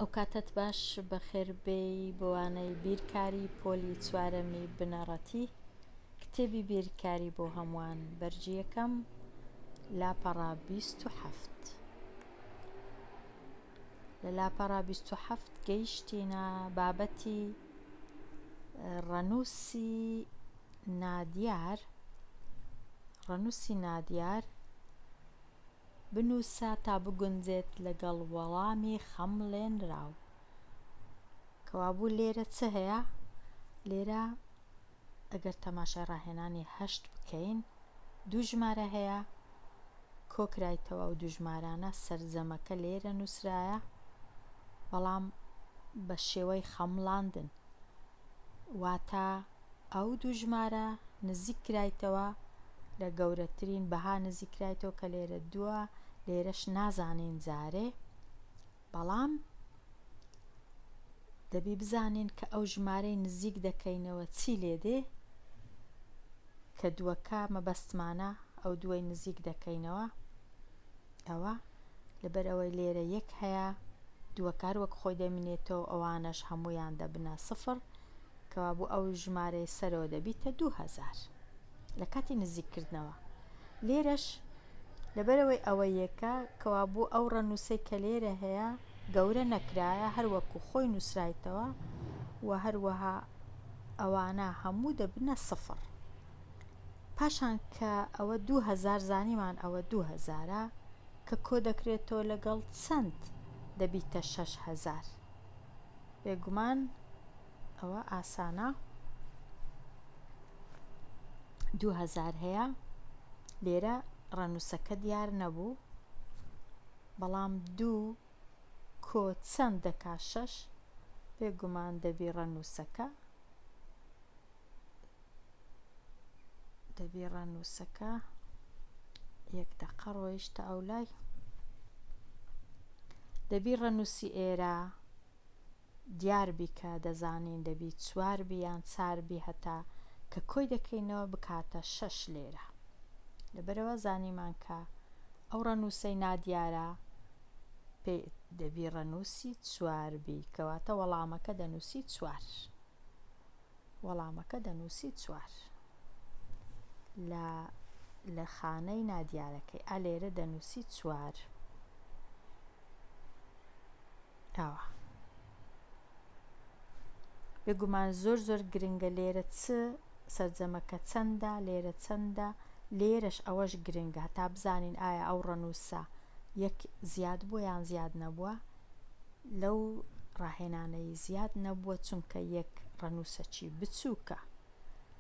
ئەوکاتەت باش بەخێر بێی بۆوانەی بیرکاری پۆلی چوارەمی بنەڕەتی کتێبی بیرکاری بۆ هەمووان بەرگی یەکەم لاپەڕە بیست و حەفت لە لاپەڕە بیست و حەفت گەیشتینە بابەتی ڕەنووسی نادیار ڕەنووسی نادیار بنووسە تا بگونجێت لەگەڵ وەڵامی خەمڵێنراو. کەوابوو لێرە چ هەیە؟ لێرە ئەگەر تەماشای ڕاهێنانی هەشت بکەین دوو ژمارە هەیە کۆکرایتەوە ئەو دوو ژمارانە سەرجەمەکە لێرە نووسرایە بەڵام بە شێوەی خەمڵاندن واتە ئەو دوو ژمارە نزیک کرایتەوە لە گەورەترین بەها نزیک کرایتەوە کە لێرە دووە لێرەش نازانین جارێ بەڵام دەبی بزانین کە ئەو ژمارەی نزیک دەکەینەوە چی لێ دێ کە دووەکە مەبەستمانە ئەو دوای نزیک دەکەینەوە ئەوە لەبەر ئەوەی لێرە یەک هەیە دووەکار وەک خۆی دەمینێتەوە ئەوانەش هەموویان دەبنە سفر کەوابوو ئەو ژمارەی سەرەوە دەبیتە دوو هەزار لە کاتی نزیککردنەوە لێرەش لەبەرەوەی ئەوە یەکە کەوا بۆ ئەو ڕەنووسەی کە لێرە هەیە گەورە نەکرایە هەروەکو خۆی نووسرایتەوە و هەروەها ئەوانە هەموو دەبنە سفر پاشان کە ئەوە دوو هەزار زانیمان ئەوە دوو هەزارە کە کۆ دەکرێتەوە لەگەڵ چەند دەبیتە شەش هەزار بێگومان ئەوە ئاسانە دوو هەزار هەیە لێرە ڕەنووسەکە دیار نەبوو بەڵام دوو کۆ چەند دەکا شەش بێگومان دەبی ڕەنووسەکە دەبی ڕانووسەکە یەک دەقە ڕۆیشتە ئەو لای دەبی ڕەنووسی ئێرە دیار بیکە دەزانین دەبی چوار بیان چار بی هەتا کە کۆی دەکەینەوە بکاتە شەش لێرە لەبەرەوە زانیمان کە ئەو ڕەنووسەی نادیارە پێ دەبی ڕەنووسی چوار بی کەواتە وەڵامەکە دەنووسی چوار وەڵامەکە دەنووسی چوار. لە لە خانەی نادیارەکەی ئا لێرە دەنووسی چوار. ئاوا بێگومان زۆر زۆر گرنگە لێرە چ سەرجەمەکە چەندە لێرە چەندە لێرەش ئەوەش گرنگە هەتا بزانین ئایا ئەو ڕەنووسە یەک زیاد بۆ یان زیاد نەبووە لەو ڕاهێنانەی زیاد نەبووە چونکە یەک ڕەنووسەکی بچووکە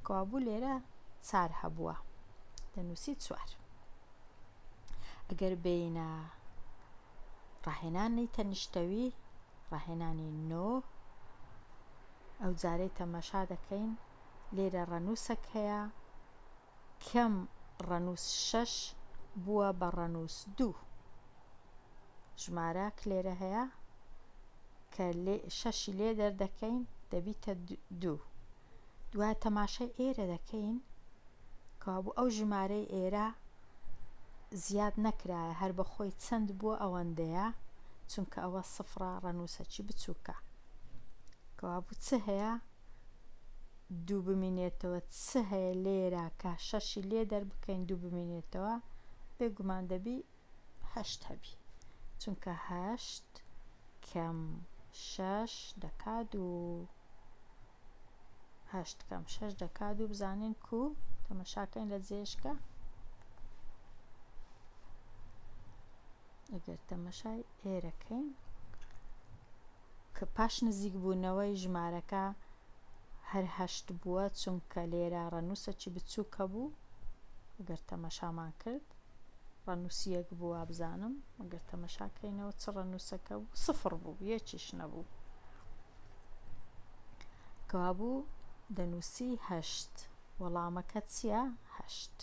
کەوابوو لێرە چار هەبووە دەنووسی چوار ئەگەر بینە ڕاهێنانی تەنیشتەوی ڕاهێنانی نۆ ئەو جارەی تەمەشا دەکەین لێرە ڕەنووسەک هەیە کەم ڕەنووس شەش بووە بە ڕەنووس دوو. ژمارە ک لێرە هەیە کە شەشی لێ دەردەکەین دەبیتە دوو. دوای تەماشای ئێرە دەکەین کابوو ئەو ژمارەی ئێرە زیاد نەکرایە هەر بەخۆی چەند بووە ئەوەندەیە چونکە ئەوە سفرە ڕەنووسەکی بچووکە کەوابوو چ هەیە دوو بمینێتەوە چ هەیە لێرە کە شەشی لێ دەربکەین دوو بمینێتەوە بێگومان دەبی هەشت هەبی چونکە هەشت کەم شەش دەکا دوو هەشت کەم شەش دەکا دوو بزانین کو تەمەشاکەین لە جێشکە ئەگەر تەمەشای ئێرە کەین کە پاش نزیک بوونەوەی ژمارەکە هەر هەشت بووە چونکە لێرە ڕەنووسەکی بچووکە بوو ئەگەر تەمەشامان کرد ڕەنووسیەک بووە بزانم ئەگەر تەمەشاکەینەوە چ ڕەنووسەکە بوو سفر بوو یەکیش نەبوو کەوابوو دەنووسی هەشت وەڵامەکە چییە هەشت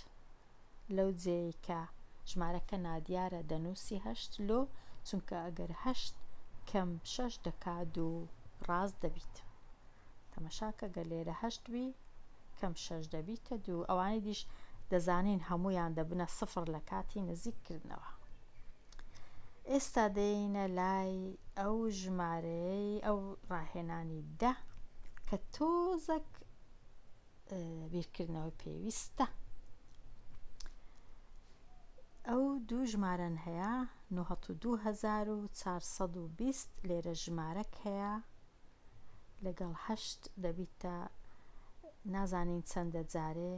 لەو جێیەی کە ژمارەکە نادیارە دەنووسی هەشت لۆ چونکە ئەگەر هەشت کەم شەش دەکات و ڕاست دەبیت تەمەشاکە گەر لێرە هەشت بی کەم شەش دەبیتە دوو ئەوانی دیش دەزانین هەمویان دەبنە سفر لە کاتی نزیککردنەوە ئێستا دێینە لای ئەو ژمارەیەی ئەو ڕاهێنانی دە کە تۆزەک بیرکردنەوە پێویستە ئەو دوو ژمارەن هەیە 1920 لێرە ژمارەک هەیە لەگەڵ هەشت دەبیتە نازانین چەندە جارێ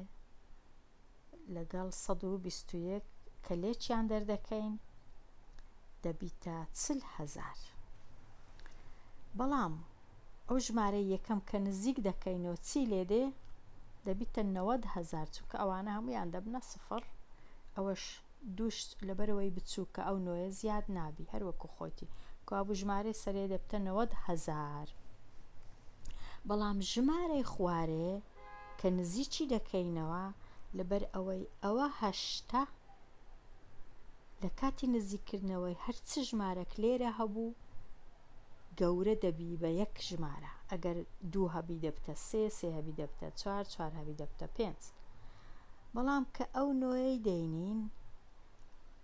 لەگەڵ سەد و بیست و یەک کە لێکیان دەردەکەین دەبیتە چل هەزار بەڵام ئەو ژمارە یەکەم کە نزیک دەکەینەوە چی لێ دێ دەبیتە نەوەد هەزار چونکە ئەوانە هەمویان دەبنە سفڕ ئەوەش دووش لەبەرەوەی بچووکە ئەو نۆیە زیاد نابی هەروەکو خۆتی کوابوو ژمارە سەرێ دەبتە نەوەد هەزار بەڵام ژمارەی خوارێ کە نزیکی دەکەینەوە لەبەر ئەوەی ئەوە هەشتە لە کاتی نزیک کردنەوەی هەر چ ژمارەک لێرە هەبوو گەورە دەبی بە یەک ژمارە ئەگەر دوو هەبی دەبتە سێ سێ هەبی دەبتە چوار چوار هەبی دەبتە پێنج بەڵام کە ئەو نۆیەی دەینین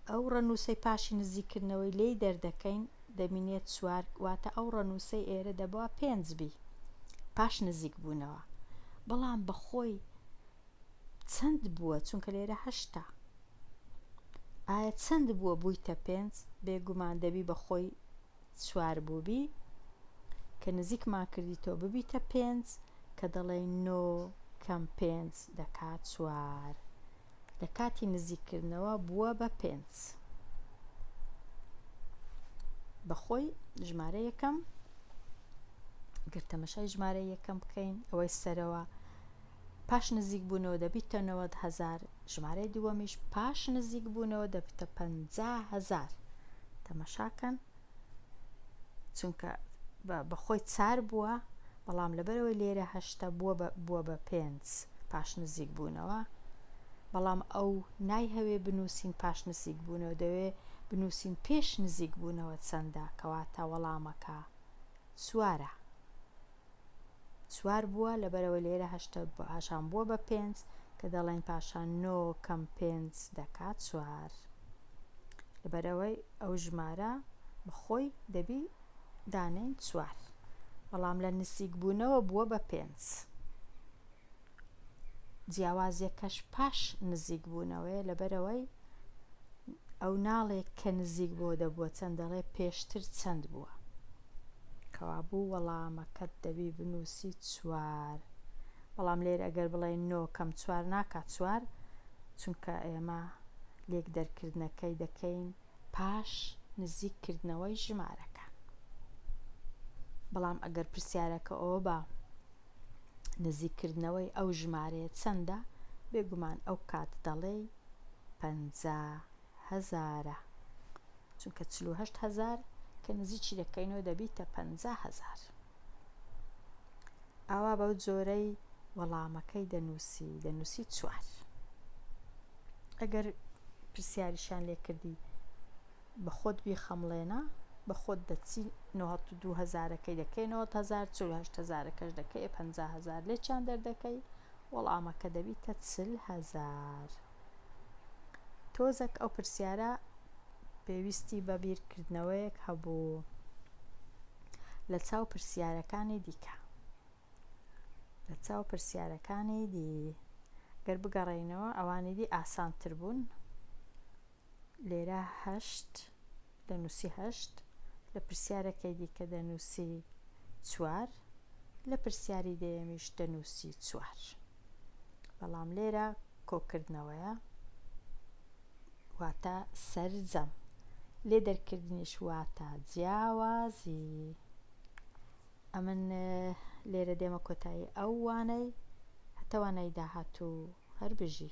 ئەو ڕەنووسەی پاشی نزیککردنەوەی لێی دەردەکەین دەبینێت چوار واتە ئەو ڕەنووسەی ئێرە دەبوا پێنج بی پاش نزیک بوونەوە بەڵام بەخۆی چەند بووە چونکە لێرە هەشتا ئایا چەند بووە بوویتە پێنج بێگومان دەبی بەخۆی چوار بووبی کە نزیکمان کردیتەوە ببیتە پێنج کە دەڵێی نۆ کەم پێنج دەکات چوار لە کاتی نزیککردنەوە بووە بە پێنج بەخۆی ژمارە یەکەم گرتەمەشای ژمارە یەکەم بکەین ئەوەی سەرەوە پاش نزیکبوونەوە دەبیتە نەوەد هەزار، ژمارەی دووەمیش پاش نزیکبوونەوە دەبیتە پەنجا هەزار. تەمەشاکەن چونکە بەخۆی چار بووە، بەڵام لەبەرەوەی لێرە هەشتە بووە بە بووە بە پێنج پاش نزیکبوونەوە، بەڵام ئەو نایهەوێ بنووسین پاش نزیکبوونەوە دەوێ بنووسین پێش نزیکبوونەوە چەندە، کەواتە وەڵامەکە چوارە. چوار بووە لەبەرەوەی لێرە هەشتە پاشان بووە بە پێنج کە دەڵێن پاشان نۆ کەم پێنج دەکا چوار لەبەرەوەی ئەو ژمارە بەخۆی دەبی دانێن چوار بەڵام لە نسیک بوونەوە بووە بە پێنج. جیاوازیەکەش پاش نزیک بوونەوەیە لەبەرئەوەی ئەو ناڵێ کە نزیک بۆ دەبووە چەند دەڵێ پێشتر چەند بووە کەوابوو وەڵامەکەت دەبی بنووسی چوار بەڵام لێر ئەگەر بڵێ نۆ کەم چوار ناکات چوار چونکە ئێمە لێک دەرکردنەکەی دەکەین پاش نزیک کردنەوەی ژمارەکان بەڵام ئەگەر پرسیارەکە ئەوە بە نزیککردنەوەی ئەو ژمارەیە چەندە؟ بێگومان ئەو کات دەڵێی پەنجا هەزارە چونکە چل و هەشت هەزار کە نزیکی دەکەینەوە دەبیتە پ هزار ئاوا بەو جۆرەی وەڵامەکەی دەنووسی دەنووسی چوار ئەگەر پرسیاریشان لێکردی بە خۆت بیخەمڵێنە بە خۆت دەچی نۆهەت و دوو هەزارەکەی دەکەی نۆهەت هەزار چل و هەشت هەزارەکەش دەکەی ئێ پەنجا هەزار لێ چیان دەردەکەی وەڵامەکە دەبیتە چل هەزار تۆزەک ئەو پرسیارە پێویستی بە بیرکردنەوەیەک هەبوو لە چاو پرسیارەکانی دیکە لە چاو پرسیارەکانی دی گەر بگەڕێینەوە ئەوانی دی ئاسانتر بوون لێرە هەشت دەنووسی هەشت، لە پرسیارەکەی دیکە دەنووسی چوار، لە پرسیاری دەیەمیش دەنووسی چوار. بەڵام لێرە کۆکردنەوەیە واتە سەرجەم لێ دەرکردنیش واتە جیاوازی ئەمن لێرە دێمە کۆتایی ئەو وانەی هەتەوانەی داهاتوو هەر بژی